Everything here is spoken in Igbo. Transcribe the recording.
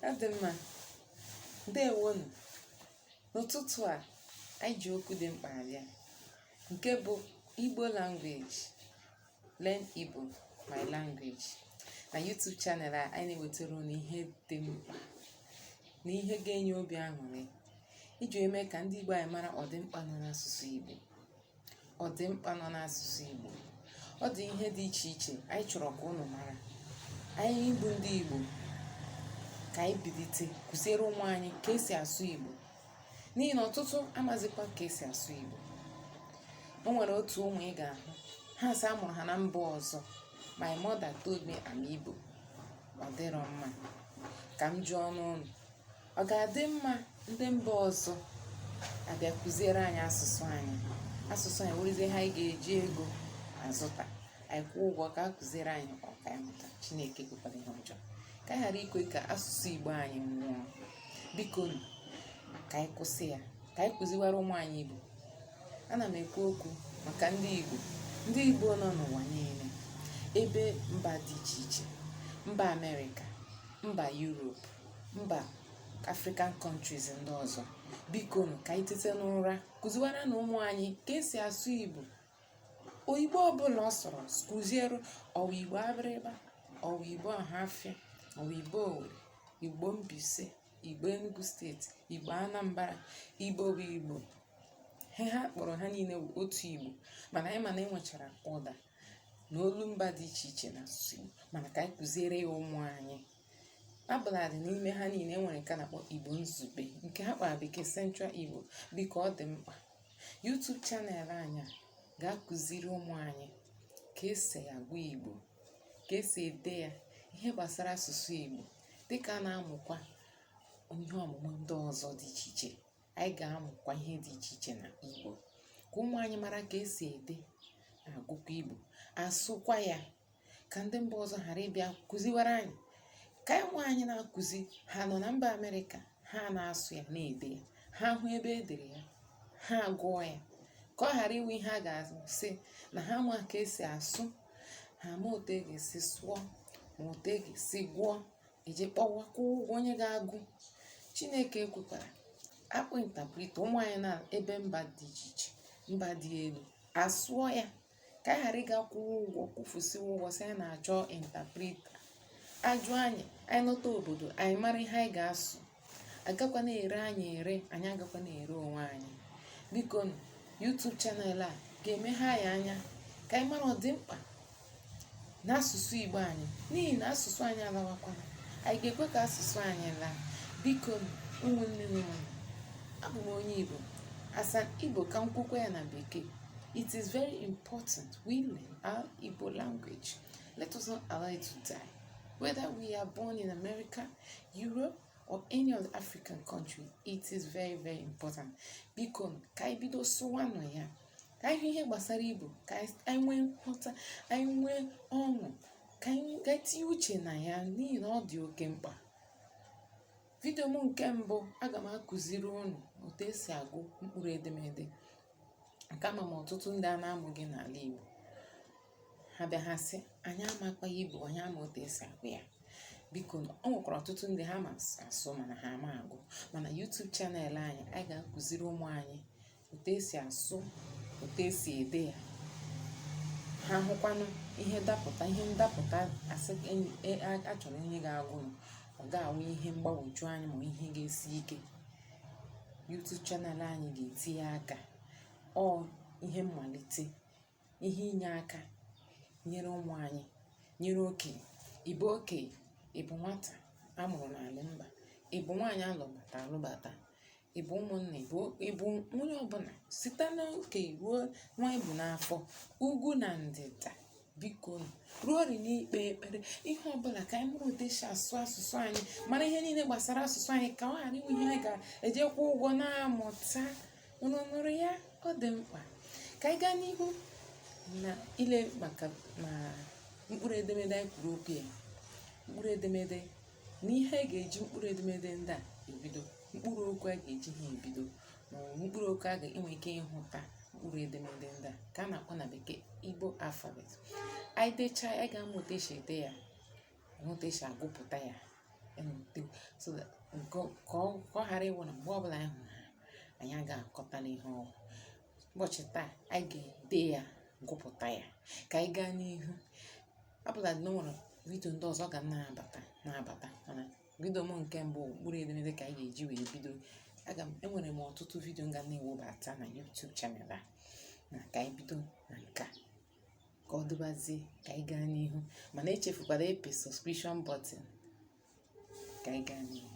ọ dị mma ndewonụ n'ụtụtụ a anyị ji okwu dị mkpa abịa nke bụ igbo language learn igbo my language na youtube channel a anyị na-ewetara unu ihe dị mkpa na ihe ga-enye obi aṅụrị iji eme ka ndị igbo anyị mara ọdịmkpa nọ n'asụsụ igbo ọdịmkpa nọ n'asụsụ Igbo ọ dị ihe dị iche iche anyị chọrọ ka ụnụ mara anyị bụ ndị Igbo ka anyị bilite kụziere ụmụ anyị ka esi asụ Igbo n'ihi na ọtụtụ amazikwa ka esi asụ Igbo o nwere otu ụmụ ị ga-ahụ ha sị a mụrụ ha na mba ọzọ my mother told me I'm Igbo ọ dịrọ mma ka m jụọnụ ụnụ ọ ga-adị mma ndị mba ọzọ abịa kụziere anyị asụsụ anyị asụsụ anyị wụrụzie ihe anyị ga-eji ego azụta anyị kwụọ ụgwọ ka a kụziere anyị ka anyị mụta chineke ekwekwala ihe ọjọọ ka anyị ghara ikwe ka asụsụ igbo anyị nwụọ biko nụ, ka anyị kwụsị ya ka anyị kụziwara ụmụ anyị igbo ana m ekwu okwu maka ndị igbo ndị igbo nọ n'ụwa niile ebe mba dị iche iche mba amerịka mba yuropu mba african countries ndị ọzọ biko nụ ka anyị tete n'ụra kụziwara nụ ụmụ anyị ka esi asụ igbo ọ wụ igbo ọbụla ọ sọrọ kụziere ọ wụ igbo abịrịba ọ wụ igbo ọhafịa ọ wụ igbo owere igbo mbaise igbo enugu steeti igbo anambra igbo bụ igbo ihe ha kpọrọ ha niile bụ otu igbo mana anyị ma na e nwechara ụda na olu mba dị iche iche na asụsụ igbo mana ka anyị kụziere ya ụmụ anyị ọbụladị n'ime ha niile enwere nke a na-akpọ igbo izugbe nke ha kpọrọ na bekee central igbo biko ọ dị mkpa YouTube channel anyị a ga-akụziri ụmụ anyị ka esi agụ igbo ka esi ede ya ihe gbasara asụsụ igbo dịka a na-amụkwa ihe ọmụmụ ndị ọzọ dị iche iche anyị ga-amụkwa ihe dị iche iche na igbo ka ụmụ anyị mara ka esi ede na agụkwa igbo asụkwa ya ka ndị mba ọzọ ghara ịbịa kụziwara anyị ka anyị onwe anyị na-akụzi ha nọ na mba amerịka ha na-asụ ya na-ede ya ha hụ ebe e dere ya ha gụọ ya ka ọ ghara ịwụ ihe a ga-asị na ha ma ka esi asụ ha ma otu e ga-esi sụọ ma otu e ga-esi gụọ eji kpọwa kwụọ ụgwọ onye ga-agụ chineke ekwekwala a kpọọ interpreter ụmụ anyị na ebe mba dị iche iche mba dị elu asụọ ya ka anyị ghara ịga kwụwa ụgwọ kwụfusiwa ụgwọ sị anyị na-achọ interpreter a jụọ anyị anyị nọta obodo anyị mara ihe anyị ga-asụ agakwa na-ere anyị ere anyị agakwa na-ere onwe anyị biko nụ YouTube channel a ga-emeghe anyị anya ka anyị mara ọdịmkpa n'asụsụ Igbo anyị n'ihi na asụsụ anyị alawakwana anyị ga-ekwe ka asụsụ anyị laa biko nụ ụmụnne m ụmụnne abụ m onye Igbo asa Igbo ka m kwukwa ya na bekee It is very important we learn our Igbo language. Let us not allow it to die. Whether we are born in America, Europe, or any other African country, it is very very important. Biko ka anyị bido sụwanụ ya ka anyị hụ ihe gbasara Igbo ka anyị nwee nghọta anyị nwee ọṅụ ka anyị tinye uche na ya n'ihi na ọ dị oke mkpa. Vidio m nke mbụ, aga m akụziri unu otu esi agụ mkpụrụ edemede nke ama m ọtụtụ ndị a na-amụghị n'ala Igbo. Ha bịa ha sị, anyị amakwaha Igbo, anyị ama otu esi agụ ya. Biko nụ, o nwekwara ọtụtụ ndị ha ma asụ mana ha ama agụ. Mana YouTube channel anyị a ga-akụziri ụmụ anyị otu esi asụ otu esi ede ya ha hụkwanụ ihe dapụta ihe ndapụta a sị e, a chọrọ onye ga-agụnụ ọ ga-awụ ihe mgbagwoju anya ma ihe ga-esi ike YouTube channel anyị ga-etinye aka ọ ihe mmalite ihe inye aka nyere ụmụ anyị nyere okenye ị bụ okenye ị bụ nwata a mụrụ n'ala mba ị bụ nwaanyị a lụbata alụbata ị bụ ụmụnna ị bụ ị bụ onye ọbụla site n'okenye ruo nwa e bu n'afọ ugwu na ndịda biko nụ, ruo ori n'ikpe ekpere ihe ọbụla ka anyị mụrụ ụdị esi asụ asụsụ anyị mara ihe niile gbasara asụsụ anyị ka ọ ghara ịwụ ihe anyị ga-ejikwa ụgwọ na-amụta unu nụrụ ya ọ dị mkpa ka anyị gaa n'ihu na ile maka ma mkpụrụ edemede anyị kwuru okwu ya mkpụrụ edemede na ihe a ga-eji mkpụrụ edemede ndị a ebido mkpụrụ okwu a ga-eji ha ebido ma ọ bụ mkpụrụ okwu a ga-enwe ike ịhụta mkpụrụ edemede ndị a ka a na-akpọ na bekee Igbo alphabet anyị dechaa anyị ga-amụ otu esi ede ya enwe otu esi agụpụta ya enweta so that nke ọ- ka ọ ka ọ ghara ịwụ na mgbe ọbụla anyị hụrụ ha anyị aga aghọtanụ ihe ọ wụ ụbọchị taa anyị ga-ede ya gụpụta ya ka anyị gaa n'ihu ọbụla na o nwere vidio ndị ọzọ ga na-abata na-abata mana vidio m nke mbụ mkpụrụ edemede ka anyị ga-eji wee bido aga m enwere m ọtụtụ vidio m ga na-ewebata na YouTube channel a na ka anyị bido na nke a ka ọ dịbazie ka anyị gaa n'ihu mana echefukwala ịpị subscription button ka anyị gaa n'ihu